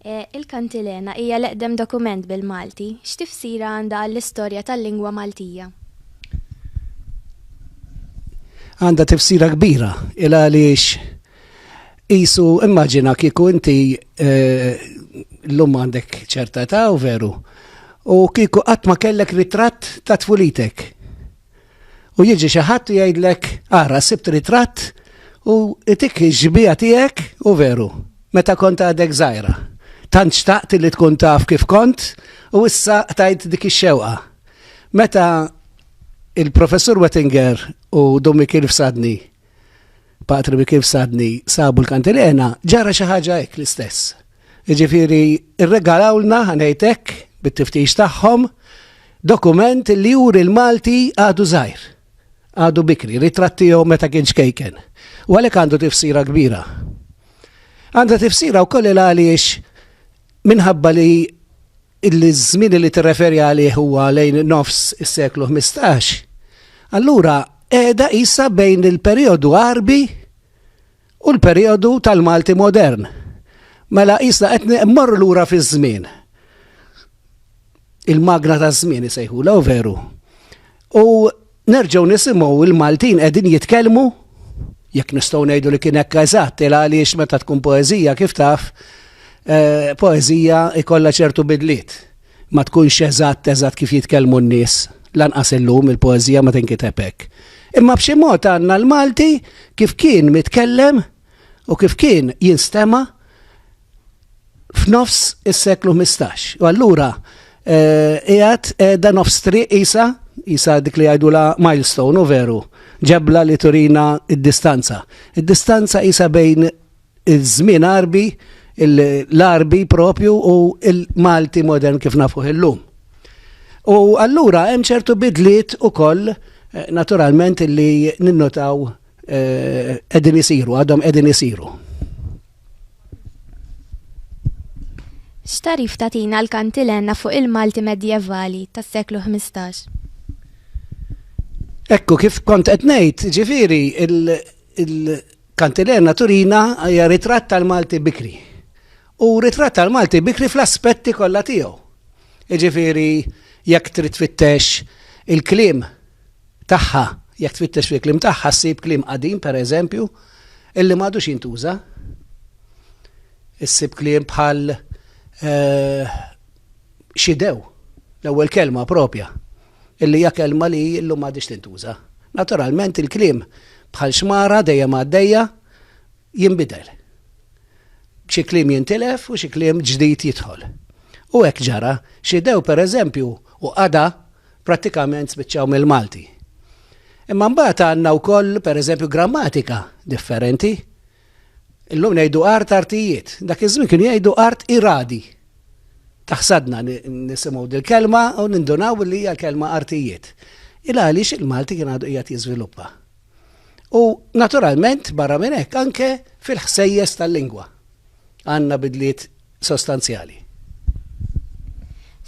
Il-Kantilena hija l-eqdem dokument bil-Malti. X'tifsira għandha għall-istorja tal-lingwa Maltija? Għandha tifsira kbira, il għaliex qisu immaġina kieku inti llum għandek ċerta età u veru, u kieku qatt ma kellek ritratt ta' tfulitek. U jiġi xi ħadd u jgħidlek, ara sibt ritratt u itik ix-xbieha tiegħek u veru, meta kont għadek żgħira. Tant xtaqt li tkun taf kif kont u issa qtajt dik ix-xewqa. Meta il-Professur Wettinger u Dom Mikil Fsadni, Patri Mikil Fsadni, sabu l-kantilena, ġara xi ħaġa hekk l-istess. Jiġifieri rregalawlna, ħa ngħid hekk, bit-tiftix tagħhom, dokument li juri l-Malti għadu żgħir, għadu bikri, ritratt tiegħu meta kien ċkejken. U għalhekk għandu tifsira kbira. Għandha tifsira wkoll il għaliex minħabba li il-żmien li tirreferi għalih huwa lejn nofs is-seklu 15, allura qiegħda isa bejn il-perjodu Arbi u l-perijodu tal-Malti modern. Mela qisna qed mmorru lura fiż-żmien. Il-magna taż-żmien isejħula u veru. U nerġgħu nisimgħu il-Maltin qegħdin jitkellmu jekk nistgħu ngħidu li kien hekk eżatt il għaliex meta tkun poeżija kif taf eh, poeżija ikollha ċertu bidliet. Ma tkunx eżatt eżatt kif jitkellmu n-nies, lanqas illum il-poeżija ma tinkiteb hekk. Imma b'xi mod għandna l-Malti kif kien mitkellem u kif kien jinstema' f'nofs is-seklu ħmistax. U allura qiegħed qiegħda nofs triq qisha, qisha dik li jgħidulha milestone, u veru, ġebla li turina d-distanza. Id-distanza qisha bejn iż-żmien Għarbi, l-Għarbi proprju u l-Malti modern kif nafuh illum. U allura hemm ċertu bidliet ukoll eh, naturalment li ninnotaw eh, qegħdin isiru, għadhom qegħdin isiru. X'tarif tatina l-kantilenna fuq il-Malti medjevali tas-seklu 15? Ekku kif kont qed ngħid, ġifieri il- Kantilerna Turina hija ritratt tal-Malti bikri. U ritratt tal-Malti bikri fl-aspetti kollha tiegħu. Jiġifieri jekk trid tfittex il-kliem tagħha, jekk tfittex fil-kliem tagħha ssib kliem qadim pereżempju illi m'għadux jintuża. Issib kliem bħal eh, xidew, l-ewwel kelma propja. illi hija kelma li llum m'għadhiex tintuża. Naturalment il-kliem bħal xmara dejjem għaddejja jinbidel. Xi kliem jintilef u xi kliem ġdid jidħol. U hekk ġara, xidew pereżempju u qada prattikament spiċċaw mill-Malti. Imma mbagħad għandna wkoll pereżempju grammatika differenti. Illum ngħidu art artijiet, dak iż-żmien kienu jgħidu art iradi. Taħsadna nisimgħu dil-kelma u nindunaw li hija kelma artijiet. Il għaliex il-Malti kien għadu qiegħed jiżviluppa. U naturalment barra minn hekk anke fil-ħsejjes tal-lingwa għandna bidliet sostanzjali.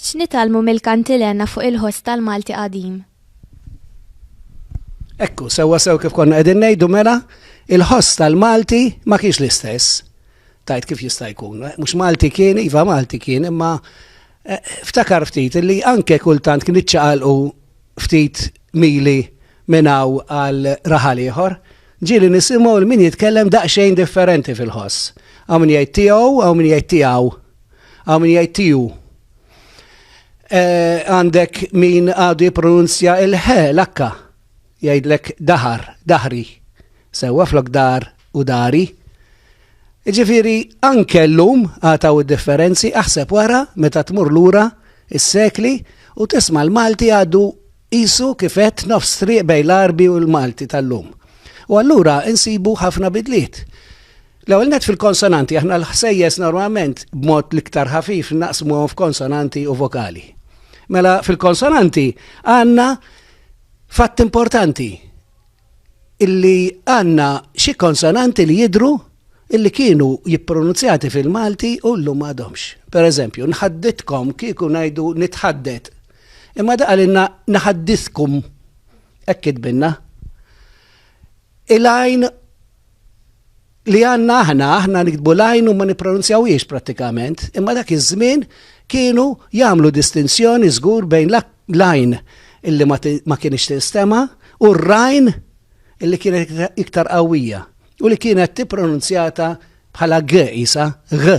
X'nitalmu mill-kantilena fuq il-ħoss tal-Malti qadim? Ekku, sewwa sew kif konna qegħdin ngħidu mela, il-ħoss tal-Malti ma kienx l-istess. Tajt kif jista' jkun, eh, mhux Malti kien, iva Malti kien, imma eh, ftakar ftit li anke kultant kien iċċaqalqu ftit mili minnaw għal raħal ieħor, ġieli nisimgħu l min jitkellem daqsxejn differenti fil-ħoss. Għaw min jgħid tiegħu, għaw min jgħid tiegħu, għaw min jgħid tiegħu. Eh, għandek min għadu jipronunzja il-ħe, l-akka, jgħidlek daħar, daħri, sewa flok dar u dari. Ġifiri, anke l-lum għataw differenzi aħseb wara meta tmur lura is-sekli u tisma l-Malti għadu isu kifet nofs triq bej l-Arbi u l-Malti tal-lum. U allura insibu ħafna bidliet. L-ewwel net fil-konsonanti aħna l-ħsejjes normalment b'mod l-iktar ħafif naqsmuhom f'konsonanti u vokali. Mela fil-konsonanti għandna fatt importanti illi għandna xi konsonanti li jidru illi kienu jippronunzjati fil-Malti u l-lum għadhomx. Per eżempju, nħadditkom kieku ngħidu nitħaddet. Imma daqalinna naħaddiskum ekkid binna. Il-għajn li għanna aħna, aħna nikdbu lajn u ma nipronunzjawiex pratikament, imma dak iż-żmien kienu jagħmlu distinzjoni żgur bejn lajn illi ma kienx tinstema u r-rajn illi kienet iktar qawwija u li kienet tippronunzjata bħala g isa g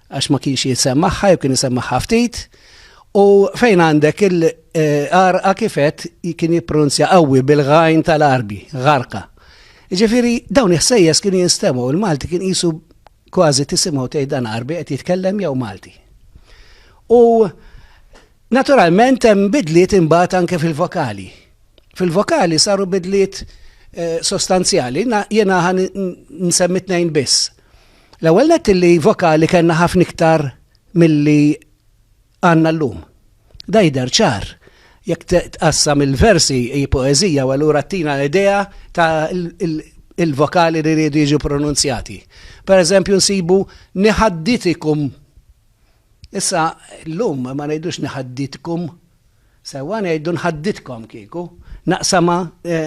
għax ma kienx jisem magħha, jew kien jisem magħha ftit, u fejn għandek il-arqa kifet kien jippronzja qawwi bil-għajn tal-arbi, għarqa. Ġifiri, dawn iħsejjes kien jinstemaw, il-Malti kien jisu kważi tisimaw tgħid dan arbi qed jitkellem jew Malti. U naturalment hemm bidliet imbagħad anke fil-vokali. Fil-vokali saru bidliet eh, sostanzjali, jena ħan nsemmi tnejn biss. L-ewwel nett illi vokali kellna ħafna iktar milli għandna llum. Dan jidher ċar jekk tqassam il-versi hi poeżija u allura ttina idea ta' il-vokali li rridu jiġu pronunzjati. Per eżempju nsibu niħadditikum. Issa llum ma ngħidux niħadditkum Sewwa ngħidu nħaddidkom kieku, naqsamha,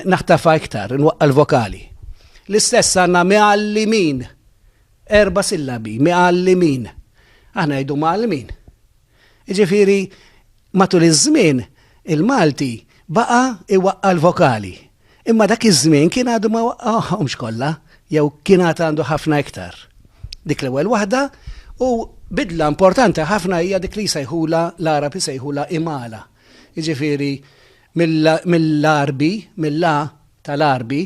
naħtafha iktar, inwaqqa' l-vokali. L-istess għandna mgħallimin. Erba' sillabi, mgħallimin. Aħna ngħidu mgħallmin. Jiġifieri matul iż-żmien il-Malti baqa' iwaqqa' l-vokali. Imma dak iż-żmien kien għadu ma waqgħahomx kollha, jew kien għad għandu ħafna iktar. Dik l-ewwel waħda u bidla importanti ħafna hija dik li jsejħula l-Għarab isejħula imala. Jiġifieri mill-Arbi, mill-la tal-Arbi,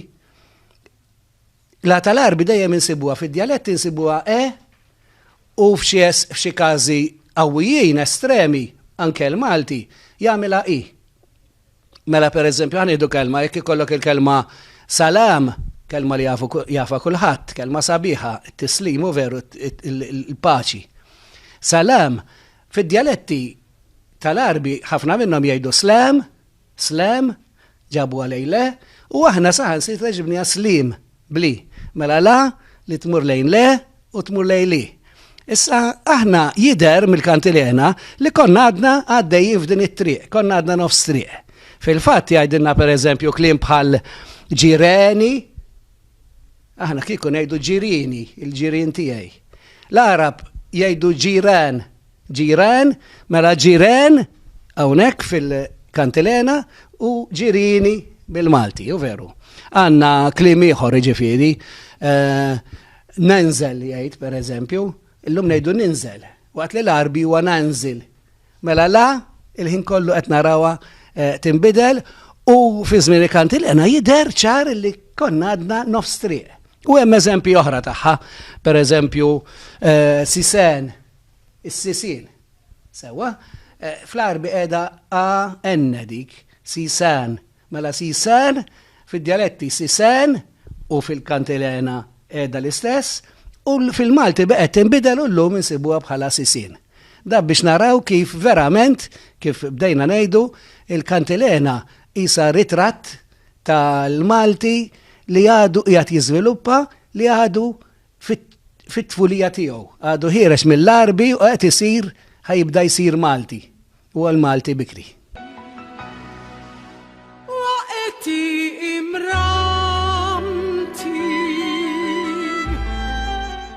la tal-Arbi dejjem insibuha fid-djaletti insibuha e u f'xi każi qawwijin estremi anke l-Malti jagħmilha i. Mela per eżempju, għan idu kelma, jek ikollok il-kelma salam, kelma li jafa kulħadd, kelma sabiħa, t-tislimu veru, il-paċi. Salam, fid-dialetti tal-arbi, ħafna minnhom jgħidu slam, slam, ġabu għalejle, u aħna saħan si ġibni slim. Bli. Mela la, li tmur lejn le, u tmur lejn li. Issa, aħna jider mill-kantilena li konna għadna għaddejjin f'din it-triq, konna għadna nofs triq. Fil-fatt jgħidilna per eżempju klim bħal ġireni, aħna kieku ngħidu ġirini, il-ġirien tiegħi. L-Arab jgħidu ġiran, Ġiran, mela ġiren, hawnhekk fil-kantilena, u ġirini bil-Malti, u veru. Għanna klim ieħor ġifieri, eh, nenżel jgħid per eżempju, illum ngħidu ninżel, waqt li l-arbi huwa nanżil. Mela la, il-ħin kollu qed narawha eh, tinbidel u fi żmien il-kantilena jidher ċar li konna għadna nofs triq. U hemm eżempji oħra tagħha, per eżempju, eh, sisen, Is-sisien. Sewwa. Fl-Għarbi qiegħda a n dik, sisan. Mela sisan, fid-djaletti sisen u fil-Kantilena qiegħda l-istess, u fil-Malti baqgħet tinbidel u llum insibuha bħala sisien. Dan biex naraw kif verament, kif bdejna ngħidu, il-Kantilena qisha ritratt tal-Malti li għadu qiegħed jiżviluppa, li għadu fit-tfulija tiegħu. Għadu ħiereġ mill-Għarbi u qed isir ħajibda jsir Malti. Huwa l-Malti bikri.